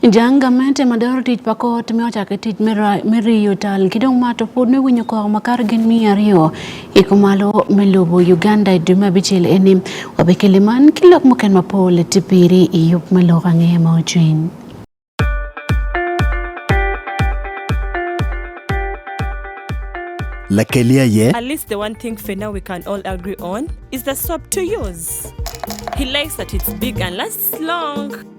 Janga mente ma dwaro tich pa kot me ochake tich me riyo tal ki dong ma to pod me winyo kok ma kar gin miya aryo i kumalo me lobo Uganda i dwe me abicel eni wabekele man ki lok muken mapol ti piri i yub me lok ange ma ocwiny. Lakelia ye. At least the one thing for now we can all agree on is the soap to use. He likes that it's big and lasts long.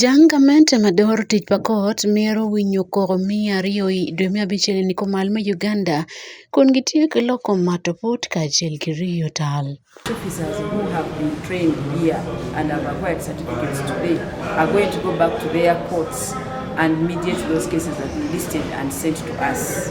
Jang gamente mador tic pa kot mito winyo koko miya aryo i dwe me abic eni ni kumal me Uganda kun gitye ki loko mato put kacel ki riyo tal. Officers who have been trained here and have acquired certificates today are going to go back to their courts and mediate those cases that we listed and sent to us.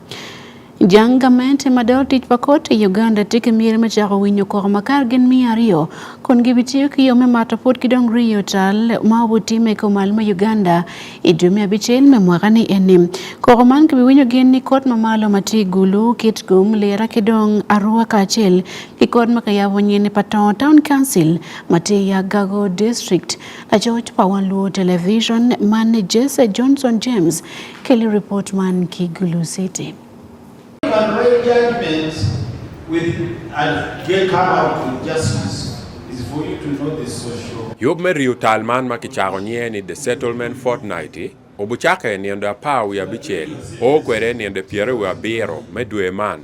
Jang gamente ma dol tic pa kot i Uganda tye ki myero me cako winyo koko ma kare gin miya aryo kun gibitiyo ki yo me mato pud ki dong riyo tal ma obutimme i kom al me Uganda i dwe me abicel me mwaka ni eni. Koko man kibiwinyo gin ni kot ma malo ma tye gulu, Kitgum, Lira ki dong Arua kacel ki kot ma kiyabo nyeni pa Tongo Town Council ma tye i Agago District. Lacoc pa Wan Luo Television man Jesse Johnson James Kelly report man Kigulu City. Yub me riyo tal man ma kicako nye ni The Settlement Fortnight obucake niende apar wiye abicel, o kwede niende pyere wiye abiro me dwe man.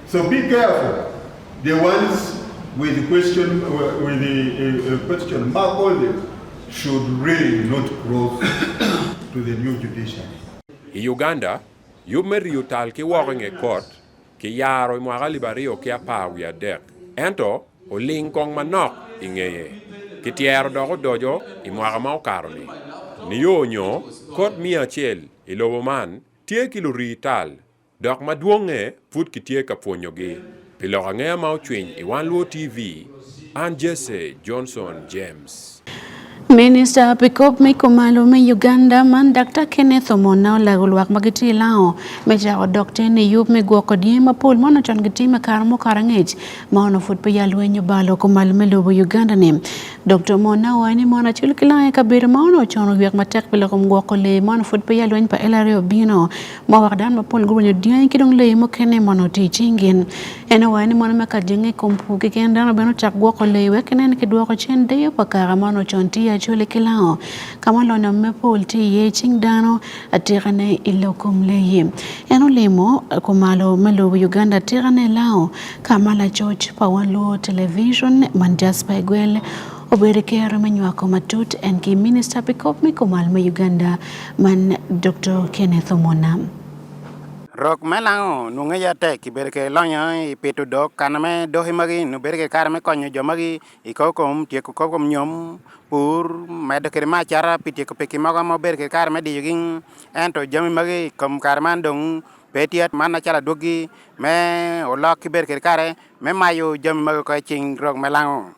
So be careful the ones with the question with the uh, uh, question mark on them should really not cross to the new judiciary. I Uganda, you may retaliate ki woko nge court ki yaro mwaka libario ki apar wi adek ento oling kong manok i ngeye ki tyero dok odojo i mwaka ma okaro-ni niyo nyo kot miya acel i lobo man tye ki lurii tal Dok madwong'e, pud kitye ka pwonyogi. Pi lok angea ma ocwiny i Wan Luo TV, an Jesse Johnson James. Minista pi kop me kumalo me Uganda man Dr. Kenneth Omona olago lwak ma gitye i Lao me cako dok ten i yub me gwoko dye mapol ma onocon gitime kare mokaro angec ma ono pud peya lweny obalo kumalo me lobo Uganda ni. Dr. Omona owacho ni mon acel ki Lao i kabedo ma ono ocono oywek matek pi loko gwoko lee ma ono pud peya lweny pa LRA obino ma wax daan ma pol guru nyo diyo ki dong leyi mukene mono ti cingin en owaye ni mono meka jenge kom pu ki ken dano beno cak gwoko leyi wek nen ki dwoko cen deyo pa kara mono con ti acoli ki lango ka ma lonyo me pol ti iye cing dano atikane i lo kom leyi en olimo kumalo me lobo Uganda atikane lango ka ma lacoc pa wan luo television man Jasper Igwel obedo kero me nywako matut en ki minista pi kop me kumal me Uganda Man Dr. Kenneth Omona. Rok me lango nunge ya tek ibedo ke lonyo i pito dok kana me doki magi nu bedo ke kare me konyo jo magi i kor kom tyeko kor kom nyom pur medo kede ma acara pi tyeko peki mogo ma obedo ke kare me diyogi ento jami magi i kom kare man dong pe tye man acalo adwogi me olok ki bedo kede kare me mayo jami magi ko i cing rok me lango.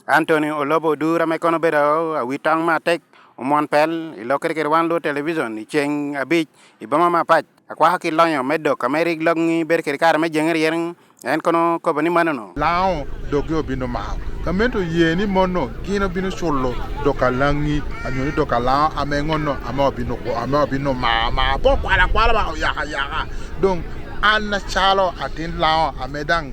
Anthony Olobo Odura ma kono bedo awi tong matek omwon pel i lok kede kede wan luo televison i ceng abic i boma mapac akwako ki lonyo me dok ame rik logngi bedo kede kare me jenge ryeng en kono kobo ni manono lango dogi obino mao gamente oye ni mono gin obino culo dok alangi anyo ni dok alango ame ngono ame obino ame obino mao mao po kwala kwala ba oyaka yaka dong an nacalo atin lango ame dang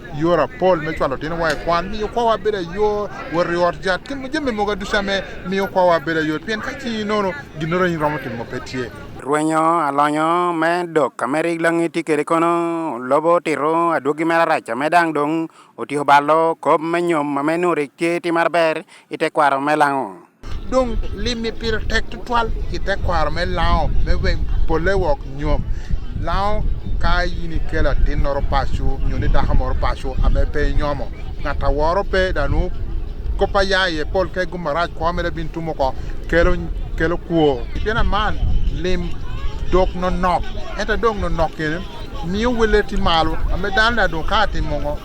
yor apol me cwalo tino wa i kwan miyo kwawa bedo ayot wot i ot jat ki jami mogo duca me miyo kwawa bedo ayot pien ka ci inono ginoro in romo timo pe tye rwenyo alonyo me dok ka me rig langi ti kede kono lobo tiro adwogi me larac me dang dong otiko balo kop me nyom ma me nuri tye ti mar ber ite kwaro me lango dong limi pire tek tutwal i te kwaro me lango me weng pole wok nyom lango ka in ikelo atin noro pacu nyo ni dako moro pacu ame pe inyomo ngat aworo pe danu kopa ya iye pol ke gumarac kwo mere bin tumo ko kelo kelo kwo pien aman lim dok nonok ento dong nonok kene miyo wele ti malo ame dano da dong ka atimo ngo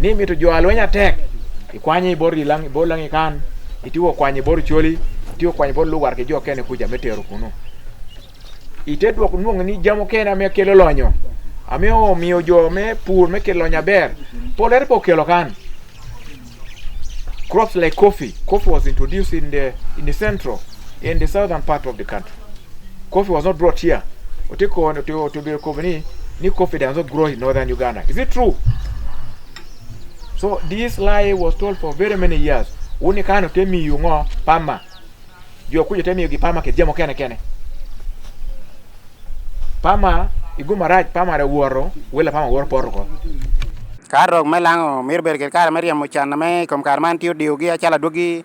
ni mito jo alweny atek ikwanye i bor ilang i bor lang ikan itiwo kwanye i bor coli itiwo kwanye i bor lugar ki jo kene kuca me tero kunu ite dwok nwongo ni jamo kene amiyo kelo lonyo amiyo omiyo jo me pur me kelo lonyo aber polere po kelo kan crops like coffee coffee was introduced in the in the central in the southern part of the country. Coffee was not brought here. Otiko to, to, to be recovered, ni coffee does not grow in northern Uganda. Is it true? So this lie was told for very many years. Uni kano temi yungo pama. Jua kuja temi yugi pama ke jemo kene kene. Pama iguma raj pama re woro wela pama woro poro ko. Kar rok me lango mir ber ker kar me riemo can me kom kar man tiyo diyo gi achala duogi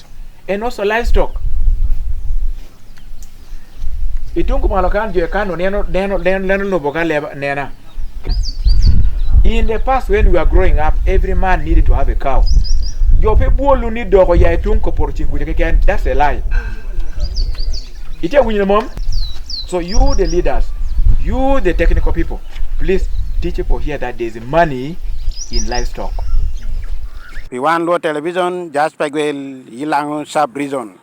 crops and also livestock. Itungu malo kan jo kano neno neno neno lobo ka leba nena. In the past when we were growing up, every man needed to have a cow. Jope bolu ni dogo ya itungu por chingu ke ken that's a lie. Ite winyo mom. So you the leaders, you the technical people, please teach people here that there's money in livestock. Piwan Luo Television, Jasper Gwel, Yilango Sub Region.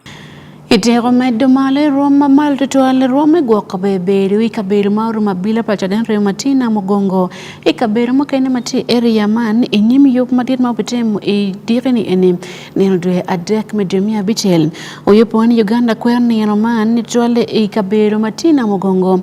Iteko medo malo e rwom ma malo to twal e rwom e gwok kabebedo i kabedo ma orumo abila paco den reo matin na mugongo i kabedo mukene ma tye area man i nyim yub madit ma obitimo i dikini eni nino dwe adek me dwe miya abicel oyubo ni Uganda kwero nino man ni twal i kabedo matin na mugongo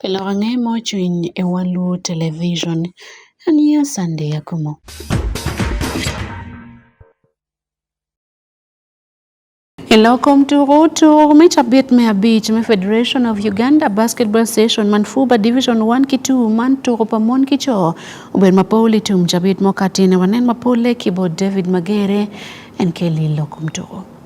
Pile wang'e mochwiny e walu television. Anie sande yakumo. Ilokom turutu mita bit mia abich me Federation of Uganda Basketball Station man Fuba Division 1 kitu man turu pa mon kicho uber mapol itum jabit mokatine wanen mapole kibo David Magere en keli ilokom turu.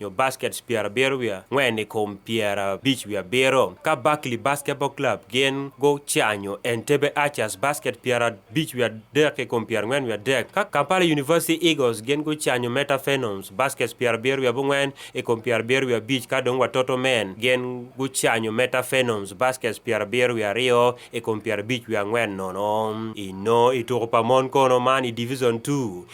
nyo baskets pyera abiro wiye angwen i kom pyera abic wiye abiro ka Barkley Basketball Club gin gucanyo Entebbe Archers basket pyera abic wiye adek i kom pyera angwen wiye adek ka Kampala University Eagles gin gucanyo Meta Phenoms baskets pyera abiro wiye abongwen i kom pyera abiro wiye abic ka dong Watoto Men gin gucanyo Meta Phenoms baskets pyera abiro wiye aryo i kom pyera abic wiye angwen nono. I no i tuko pa mon kono man i Division Two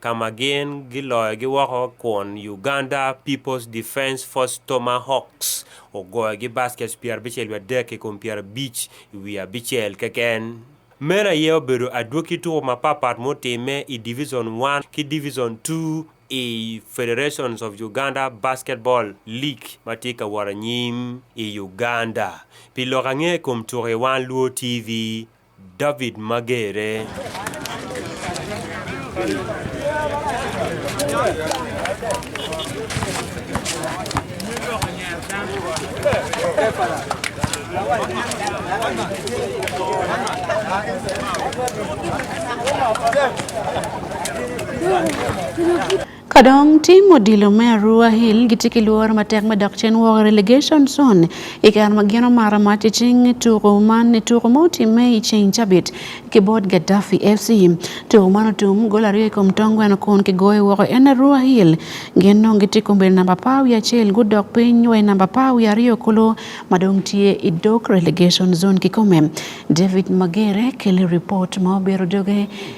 ka ma gin giloyogi woko kun Uganda People's Defence Force Tomahawks ogoyogi baskets pyera abicel wiye adek i kom pyera abic i wiye abicel keken. Meno aye obedo adwogi tuko mapapat mutimme i Division One ki Division Two i Federation of Uganda Basketball League ma tye ka wot anyim i Uganda. Pi lok ange i kom tuko iwang Luo TV. David Magere. Kadong tim odilo me Arua Hill gitye ki lwor matek me dok cen woko relegation zone i kare ma gin omaro mac i cing tuko man i tuko ma otimme i ceng cabit ki bot Gaddafi FC. Tuko man otum gol aryo i kom tong gweno kun kigoyo woko en Arua Hill gin nong gitye i kombedi namba apar wiye acel gudok piny wa i namba apar wiye aryo kulu ma dong tye i dog relegation zone kikome. David Magere kele ripot ma obiero doge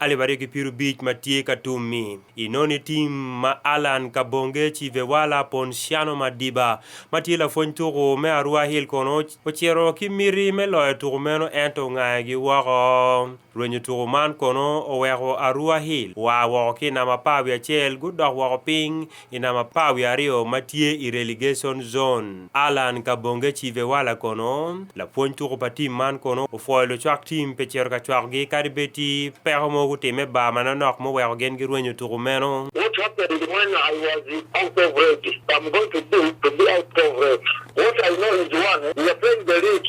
Alif ariyo gi piero abich ma tye ka tummi inoni tim ma Alan Kabonge Chivewala Ponsiano Madiba ma tye lapwony tuku me Arua Hill kono ocito ki miti me loyo tuku meno ento ongayagi woko. Rwenyo tuku man kono oweko Arua Hill oa woko ki i namba apar wiye acel gudok woko piny I namba pa wiye aryo ma tye i relegation zone, Allan Kabonge Chivewala kono, lapwony tuko pa tim man kono opwoyo lucwak tim pe cito ka cwakogi kadi bed tye peko mogo gutimme bar manonok muweko gin girwenyo tuko meno. What happened when I was out of red? I'm going to do to be out of red. What I know is one, we are playing the league.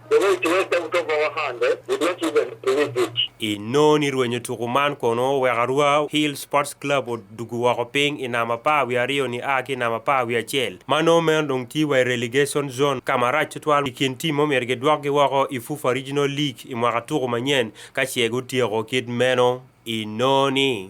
I noni rwenyo tuku man kono wek arwa Hill Sports Club odugu woko piny i namba pa wi aryo ni a ki namba pa wi acel. Mano meno dong ti wa i relegation zone ka marac tutwal i kin tim omyero gidwokgi woko i Fufa Regional League i mwaka tuku manyen ka ce gutyeko kit meno i noni.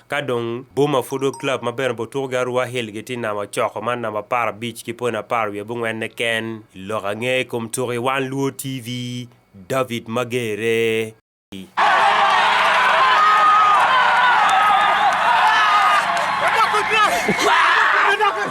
Ka dong boma pud o club ma bene obutuko gi arua hill gitye i namba ocoko man namba apar abic ki poni apar wiye bungwenne ken i lok ange i kom tuko i one luo TV David Magere.